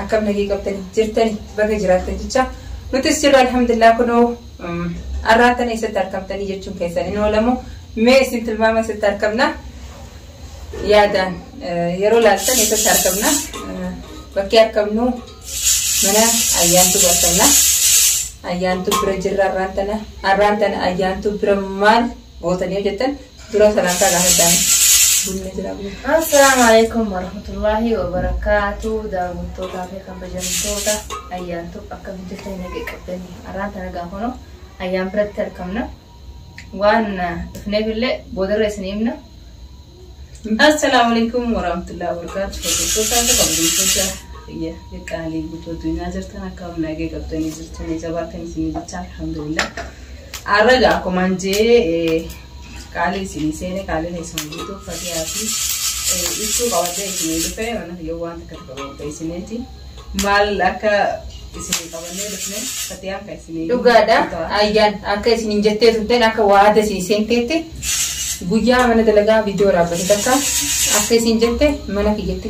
Akkam nagee qabdani jirtani baga jiraattan jecha nutis jirra alhamdulillah kunoo arraan tana eessatti arkamtanii jechuun keessan hin oolamu mee isin tilmaama eessatti arkamna yaadaan yeroo laaltan eessatti arkamna bakkee arkamnu mana ayyaantu bartamna ayyaantu bira jirra arraan tana arraan tana ayyaantu bira maal Gootanii yoo jettan dura salaantaa gaafadhaan bunni jira bunni. Assalaamu alaikum warahmatullaahi wabarakaatu daawwattootaa fi kabajamtoota ayyaantu akka hojjetanii nagee qabdanii arraan tana gaafanoo ayyaan biratti argamna waan dhufneef illee boodarra isin himna Assalaamu alaikum warahmatullahi wabarakatuh. Hordoftoota akka kabajamtoota biyya qaqqaalii guutuu addunyaa jirtan akka humna eegee qabdanii jirtu ni jabaatan isin jecha alhamdulillah. Har'a egaa akkuma jee qaalii isin seene qaalii keessan guutuu fatiyaa fi ibsuu qabadee isin dhufe mana yoo waan takka takka qopheessineeti. maal akka isinii qabannee dhufne fatiyaan kan isinii dhugaadha ayyaan akka isin hin jettee turteen akka waada isin seenteetti guyyaa mana dalagaa viidiyoo waraabate takka akka isin jette mana kiyyatti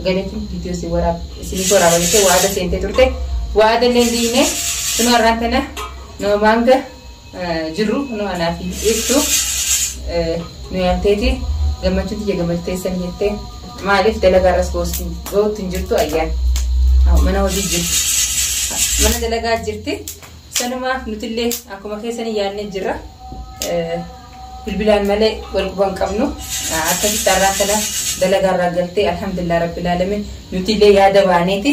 galeetiin viidiyoo isin waraab isiniif waraaba jettee waada seentee turte waada illee diine sunu har'aan tana nama maanga jirru kunoo anaa fi ibsu nu yaamteeti gammachuu tiyya gammachuu teessan jettee maaliif dalagaa irras gootti hin jirtu ayyaan mana hojii jirti mana dalagaa jirti sanumaaf nutillee akkuma keessanii yaadnee jirra bilbilaan malee wal quban qabnu akkasitti har'aa kana dalagaa irraa galtee alhamdulillah rabbil alamin nutillee yaada baaneeti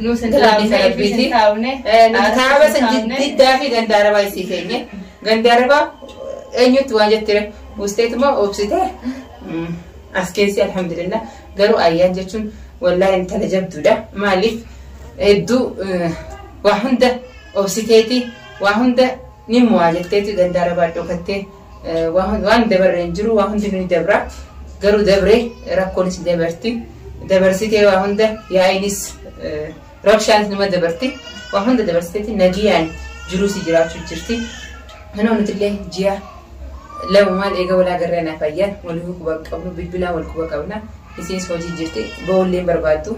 Nuu sin taa'amne Taa'amne, rabbiiti. isin taa'amne. Eh, nuti Aarsi kaaba sin san taa'amne. diddaa fi gandaarabaa isii keenye. Gandaarabaa eenyutti waan jettire buusteetuma obsite. Mm, As keessi alhamdulillah garuu ayyaan jechuun wallaahi intala jabduudha. Maaliif hedduu eh, waa hunda obsiteeti waa hunda ni mo'aa jetteeti gandaarabaa dhokattee Waan dabarre hin jiru waa hundinuu ni dabra. Garuu dabre rakkoonis ni dabarti. Dabarsitee waa hunda yaa'iinis rabshaanis nima dabarti. Waa hunda dabarsiteetti nagiyaan jiruusi jiraachuu jirti. Kanoo nutillee ji'a lama maal eega walaa garree naaf ayyaan walii quba qabnu bilbilaan wal quba qabna. Isinis hojii jirti ba'ullee barbaaddu.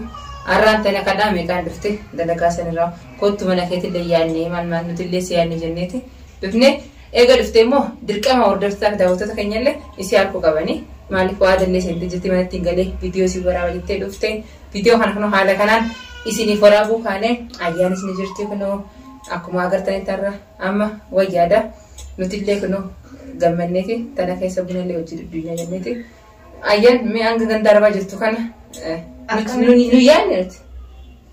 Arraan tana kadhaa meeqaan dhufte dalagaa sanirraa kottu mana keetillee yaadne maal maal nutillee si yaadne jenneeti dhufne. Eega dhuftee immoo dirqama hordoftotaa fi daawwattoota keenya illee isii arkuu qabani. Maaliif waa jallee seentee jirti manatti hin galee viidiyoo isin waraaba jettee dhufte. Viidiyoo kana kunoo haala kanaan isiniif waraabuu kaanee ayyaan isin jirti kunoo akkuma agartanitti har'a amma wayyaada. Nuti illee kunoo gammanneeti tana keessa buna illee hojii dudduunya jenneeti. Ayyaan mee hanga ganda arbaa jirtu kana nu yaadne nuti.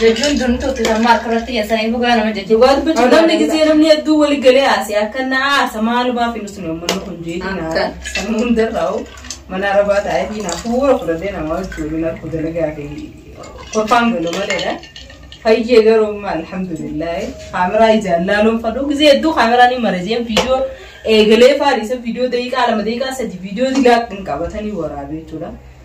Jechuun durni tuutti kan maarka irratti hin saniin dhugaa nama jechuudha. Dhugaa dubbachuu Yoo namni gisee namni hedduu wali galee haasee akka na aarsa maalumaa fi nusni uummanni kun jeetii na Akka. kan hundarraa hoo mana arabaa taa'ee fi naaf fuula fudhadhee nama hojjetu na kuda nagaa fi kolfaan galu maleedha. Fayyee garuu amma alhamdulillah kaameraa ijaan laaluun fadhu gisee hedduu kaameraa ni marajeen viidiyoo eegalee faariisa viidiyoo daqiiqaa lama daqiiqaa sadi viidiyoo digaa hin qabatanii waraabee jechuudha.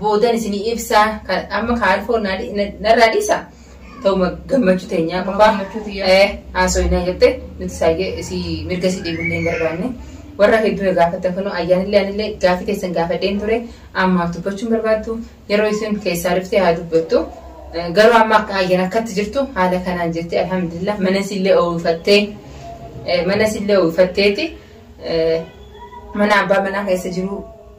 boodan isinii ibsaa kan amma kaalfoo naa dhi- na- narraa dhiisa ta'uma gammachuu teenyaa Amma qofaa gammachuu tiyyaa. eh, haasoinaa jette nuti saayee isii mirga isii dhiibullee hin barbaanne warra hedduu na gaafatta kanoo ayyaanillee anillee gaafii teessan gaafadheen ture ammaaf dubbachuun barbaaddu yeroo isin keessaa dhuftee haa dubbattu Eh, garuu amma akka ayyan akkatti jirtu haala kanaan jirti alhamdulillah mana isillee oofattee eh, mana isillee oofatteeti eh, mana abbaa manaa keessa jiru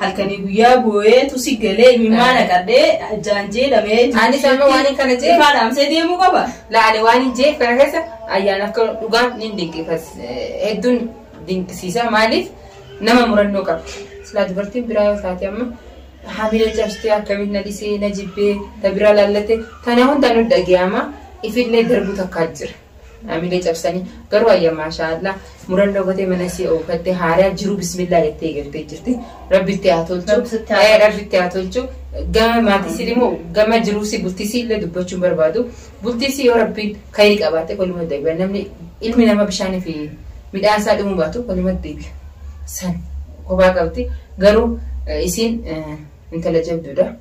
halkanii guyyaa booyee tusi galee imimmaa naqadhee ajjaan jeedhamee Anis amma waan hin kana jee- ifaa dhaamsee deemuu qaba. Laale waan hin jeef kana keessa ayyaana akka dhugaan ni dinqifas hedduun dinqisiisa maaliif nama murannoo qabdi. Silaa dubartiin biraa yoo taate amma hamila cabsitee akkamitti na dhisee na jibbee na biraa laallate kana hundaan nu dhaga'ama ifillee darbuu takkaa jira. Naamilee cabsanii garuu ayya maashaa Allah murannoo gotee mana isii oofattee haaraa jiruu bismillaa jettee eegaltee jirti. Rabbi itti haa tolchu. Rabbi sitti haa Eh, Rabbi itti haa tolchu. Gama maatii isii immoo gama jiruu isii bultii isii illee dubbachuun barbaadu. Bultii isii yoo rabbiin kayrii qabaate koluma deebi'a. Namni ilmi nama bishaanii fi midhaan isaa dhimuu baatu koluma deebi'a. San kophaa qabdi. Garuu eh, isiin eh, intala jabduudha.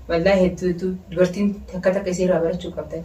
Wallaahi hedduu hedduu dubartiin takka takka isii irraa barachuu qabdan.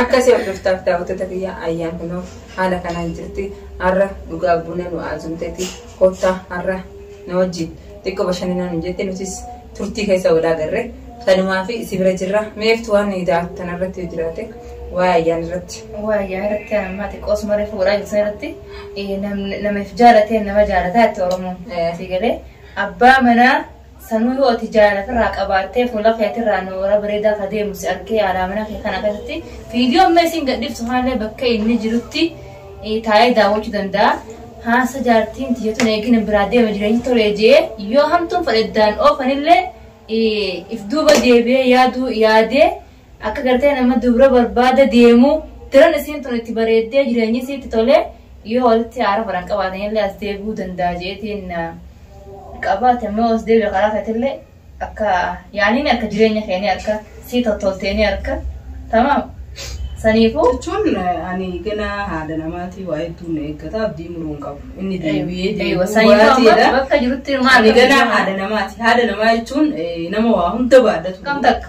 Akkasii hordoftaaf daawwattoota kiyya ayyaan kunoo haala kanaan jirti har'a dhugaa buna nu aazumteeti kottaa har'a na wajjin xiqqoo bashannanaa nu jette nutis turtii keessa wal agarre kanumaa fi si bira jirra meeftu waan daawwattan irratti yoo jiraate waa'ee ayyaan irratti. Waa yaa irratti amma xiqqoo osuma reefu godhaa jirtu irratti eh, nam- namaaf jaalatee nama jaalataa itti Oromoon. Eh. Asii galee abbaa manaa Sanuu yoo ati jaala ofirraa qabaattee fuula keetirraa nooraa bareedaa ka deemu si argee haalaa mana kee kana keessatti viidiyoo amma isin gadhiiftu haallee bakka inni jirutti taa'ee daawwachuu danda'a. Haasa jaartiin tiyyatuun eegina biraa deema jireenyi tolee jee yoo hamtuun fedheddaan oofanillee if duuba deebi'ee yaaduu yaadee Akka gartee nama dubra barbaada deemuu daran isiin tun itti bareeddee jireenyi isii itti tolee yoo walitti haara faran qabaatanillee as deebi'uu danda'a jeetiin qabaate immoo as deebi'e karaa keetillee akka yaaniin akka jireenya keenii akka sii tottolteenii akka tamaam saniifuu Jechuun eh, ani gana haadha namaatii waa hedduun na eeggata abdii muruu hin qabu. Inni deebi'ee Eeywa, deebi'uu saniifuu amma baateedha. bakka jirutti maal Ani gana haadha namaati. Haadha namaa jechuun eh, nama waa hunda baadhatu. kam takka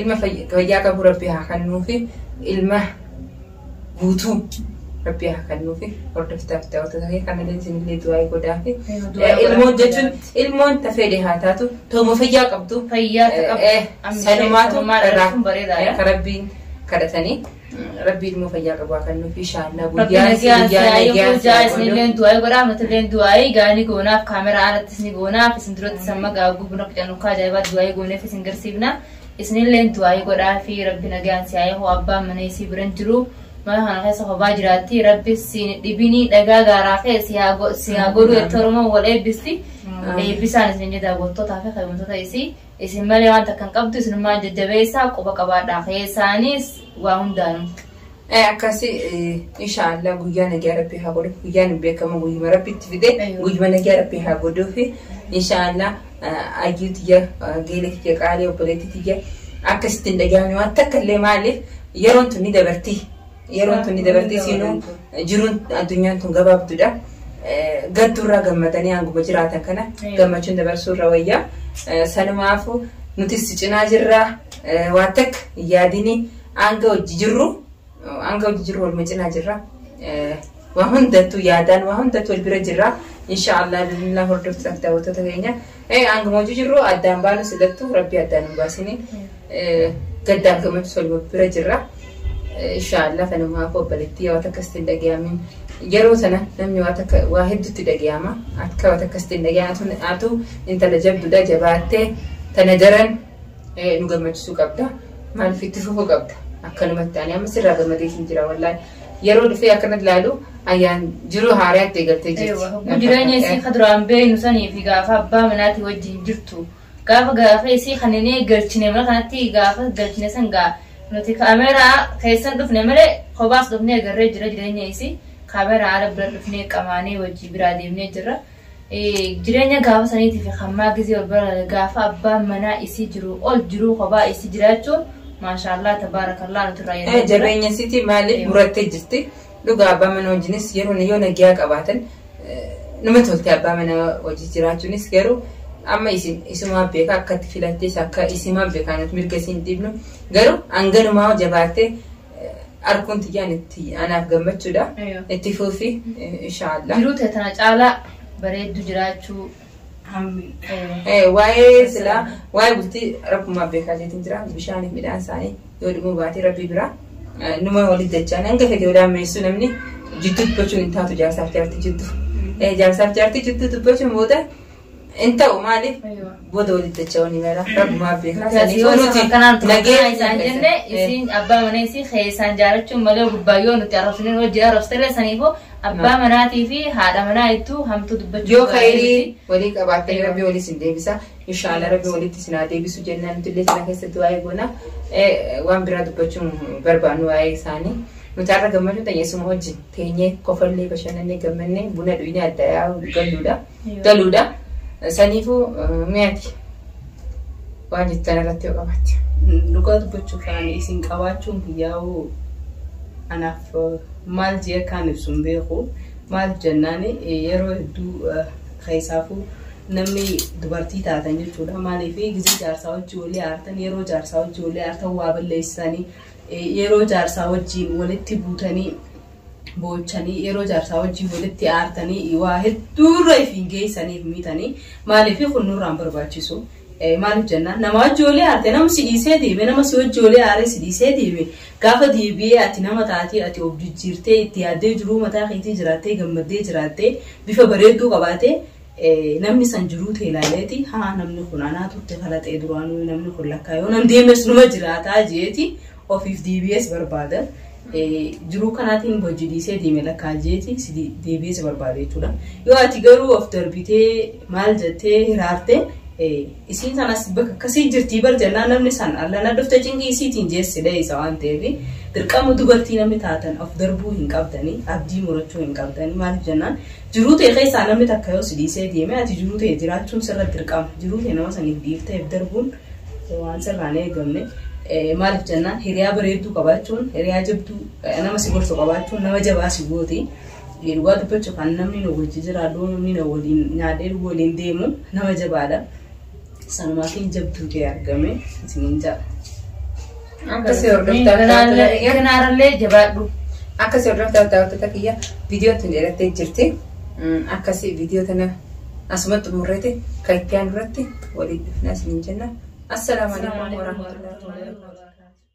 ilma fayyaa qabu rabbi haa kennuufi ilma guutuu rabbi haa kennuufi hordoftaaf daawwattoota kee kanallee isinillee du'aa godhaafi ilmoon jechuun ilmoon tafeedhe haa taatu tooma fayyaa qabdu fayyaa ta'u sanumaatu irraa bareedaadha. ka rabbiin kadhatanii Rabbii ilmoo fayyaa qabu haa kannuuf inshaallaa Rabbi guyyaan si nagaan guyyaa siyaa eeguu nagaan jaa siyaa godhu. isinilleen du'aa'ii godhaa nutilleen du'aa'ii gaanii goonaaf kaameraa alattis ni goonaaf isin duratti samma gaaguu buna qicanukkaa ajaa'ibaa du'aa'ii gooneef isin garsiifna isinilleen du'aa'ii godhaa fi rabbi nagaan siyaa eeguu abbaan mana isii biran jiru mana kana keessa hobaa jiraatti rabbi siin dhibinii dhagaa gaaraa kee siyaa go- siyaa godhu jettee oromoon wal eebbisti Amiin. eebbisaan isin jedha gottootaa fi kabajamoota isii Isin malee waan takka hin qabdu isinummaan jajjabeessaa quba qabaadhaa keessaanis waa hundaanuu. Ee akkasi inshaallah guyyaa nagaa rabbii haa godhuuf guyyaan hin beekamu guyyuma rabbi itti fide Ayyo. guyyuma nagaa rabbii haa godhuufi inshaallah ayyuu tiyya geelee tiyya qaalee obboleetti tiyya akkasitti hin dhagahamne waan takka illee maaliif yeroon tun ni dabarti Yeroon tun ni dabartee siinuu jiruun addunyaan tun gabaabdudha. Gadduurraa gammadanii hanguma jiraatan kana gammachuun dabarsuurra wayyaa. Sanumaafu nutis si cinaa jirra waan takka yaadini hanga hojii jirru hanga hojii jirru waluma cinaa jirra. Waa hundattuu yaadaan waa hundattuu wal bira jirra. Inshaa Allah bismillah hordoftoota fi daawwattoota keenya. Eh, Hanguma hojii jirru addaan baanu silattu rabbi addaan hin baasini. Eh, Gaddaaf gammachuu wal wal bira jirra. Eh, Inshaa Allah kanuma hafu obboleettii yoo takka sitti hin dhaga'amin. Yeroo sana namni waa takka waa hedduutti dhaga'ama. Akka waa takka sitti hin dhaga'amin atu intala jabduudha jabaattee tana daran nu gammachisuu qabda maaliif itti fufu qabda akkanumatti ani amma sirraa gammadee siin jira wallaahi yeroo dhufee akkanatti ilaalu ayyaan jiruu haaraa itti eegaltee jirti. Kun jireenya isii ka duraan beeknu sanii fi gaafa abbaa manaatii wajjin jirtu gaafa gaafa isii kan inni galchine mana kanatti gaafa galchine san gaa nuti kaameeraa keessan dhufne malee kophaas dhufnee agarree jira jireenya isii kaameeraa ala bira dhufnee qamaanee wajjin biraa deemnee jirra. Jireenya gaafa saniitii fi hammaa gizee wal bira gaafa abbaan manaa isii jiru ol jiruu kophaa isii jiraachuun maashaallah tabaarakallah nuti irraa yaadee jabeenya sitii maaliif murattee jirti dhugaa abbaa mana wajjinis yeroo yoo nagiyaa qabaatan nama toltee abbaa mana wajji jiraachuunis garuu amma isin isumaa beeka akkatti filattees akka isimaa beekaan mirga isin dhiibnu garuu hanganumaa jabaattee arguun tiyyaan itti anaaf gammachuudha. Ayyo. Itti fuufi inshaallah. Jiruu tee tana caalaa bareeddu jiraachuu. Hammi. Ayyo. Eh, Waa'ee silaa waa'ee bultii rabbumaa beekaa jeetiin jira bishaaniif midhaan isaanii yoo dhimuu baatee rabbii biraa eh, numa waliin dachaan hanga fedhe yoo daammeessuu namni jidduu dubbachuun hin taatu jaarsaaf jaartii jidduu. Eh, Jaarsaaf jaartii jidduu dubbachuun booda Hin ta'u maaliif booda walitti dacha'uun himera rabbumaa beekaa saniif Yoo nuti akkanaan turan nageenya isaan jenne isiin abbaa manaa isii keessaan jaalachuun malee gubbaa yoo nuti arrabsineen hojii arrabsirree saniifoo abbaa manaatii fi haadha manaa ittuu hamtuu dubbachuu yoo baay'ee kayrii miti. walii qabaattanii Eeyyoo. rabbi walii isin deebisa inshaalla rabbi walitti isin haa deebisu jennaan nuti illee sana keessatti waa'ee goona Eh, waan biraa dubbachuun barbaannu waa'ee isaanii nuti har'a gammachuu ta'e isuma wajjin teenyee kofallee bashannannee gammannee buna dhugnee adda yaa'u galluudha. galuudha. Saniifuu mee ati waan jettan irratti yoo qabaatte. Dhugaa dubbachuuf ani isin qabaachuun kiyyaa'u anaaf maal jee akkaan ibsu hin beeku. Maaliif jennaan yeroo hedduu keessaafuu namni dubartii taatan jechuudha. Maaliif gizii jaarsaa wajjin walii aartan yeroo jaarsaa wajjin walii aartan waa balleessanii yeroo jaarsaa wajjin walitti buutanii boochanii yeroo jaarsaa wajjin walitti aartanii waa hedduurra ifiin geessaniif miitanii maaliif kun nurraan barbaachisu maaliif jennaan nama wajji walii aarte nama si dhiisee deeme nama si wajji walii aaree si dhiisee deeme gaafa deebi'ee ati nama taatee ati of jijjiirtee itti yaaddee jiruu mataa keetii jiraattee gammaddee jiraattee bifa bareedduu qabaatee namni san jiruu tee ilaaleeti haa namni kun anaa turte kalaxee duraanuu namni kun lakkaa yoo nan deemes numa jiraataa jeeti ofiif deebi'ee si barbaada. Jiruu kanaatiin hojii dhiisee deeme lakkaa jeeti si deebi'ee si barbaada jechuudha. Yoo ati garuu of darbitee maal jettee hiraarte isiin sanas bakka akkasii jirtii bar jennaan namni san allana dhufte cinqii isiitiin jeessi dheessa waan ta'eef dirqama dubartii namni taatan of darbuu hin qabdanii abdii murachuu hin qabdanii maaliif jennaan jiruu ta'e keessaa namni takka yoo si dhiisee deeme ati jiruu ta'e jiraachuun sirra dirqama jiruu ta'e nama saniif dhiifteef darbuun Waan sirraa hin eegamne maaliif jennaan hiriyaa bareedduu qabaachuun hiriyaa jabduu nama si gorsu qabaachuun nama jabaa si gooti. Dhugaa dubbachuuf kan namni nu wajji jiraadhu namni na waliin nyaadhee dhugu waliin deemu nama jabaadha. Sanumaatiin jabduu ta'e argame isiniin ja'a. Akka si hordoftaa Kanaarra- kiyya. Kanaarrallee jabaadhu. Akka si hordoftaa daawwattoota kiyya viidiyoon tun dheerattee jirti. Mm, Akkasii viidiyoo tana asumatti xumurreeti kan itti aanu irratti waliin dhufnaa isiniin jenna. Assalaamu alaikum warahmatullahi wabarakatuh.